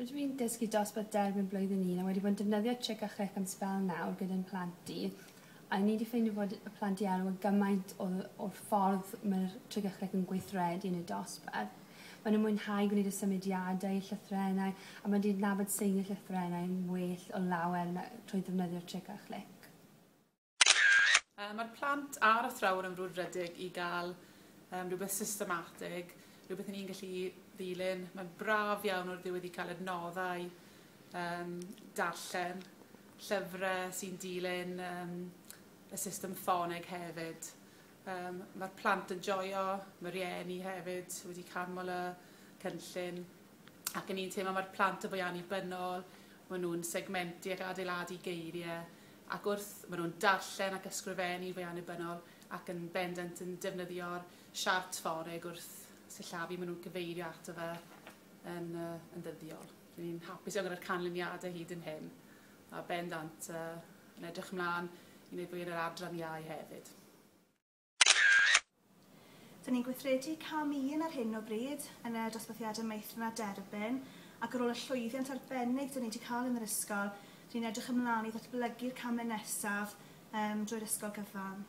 Rydw i'n dysgu dosbarth derbyn blwyddyn un a wedi bod yn defnyddio Chick a Chrick am sbel nawr gyda'n plant i, a ni 'di ffeindio fod y plant i elwa gymaint o o'r ffordd mae'r Chick a Chrick yn gweithredu yn y dosbarth. Maen nhw'n mwynhau gwneud y symudiadau i'r llythrennau a maen nhw'n cydnabod seiniau llythrennau yn well o lawer na trwy ddefnyddio'r Chick a Chrick. Yy ma'r plant a'r athrawon yn frwdfrydig i ga'l yym rwbeth systematig, rwbeth 'yn ni'n gallu ddilyn. Ma'n braf iawn o'r ddiwedd i ca'l adnoddau yym darllen, llyfre sy'n dilyn yym y system ffoneg hefyd. Yym ma'r plant yn joio, ma' rieni hefyd wedi canmol y cynllun ac 'yn ni'n teimlo ma'r plant yn fwy annibynnol, ma' nw'n segmentu ac adeiladu geirie ac wrth maen nhw'n darllen ac ysgrifennu fe annibynnol ac yn bendant yn defnyddio'r siart fforeg wrth sillafu maen nhw'n cyfeirio ato fe yn, uh, yn ddyddiol. Rydyn ni'n hapus iawn gyda'r canlyniadau hyd yn hyn a bendant uh, yn edrych ymlaen i wneud fwy yn yr adran iau hefyd. Dyn ni'n gweithredu cam un ar hyn o bryd yn y dosbarthiadau meithrin a derbyn ac ar ôl y llwyddiant arbennig dyn ni wedi cael yn yr ysgol, dyn ni'n edrych ymlaen i ddatblygu'r camau nesaf um, drwy'r ysgol gyfan.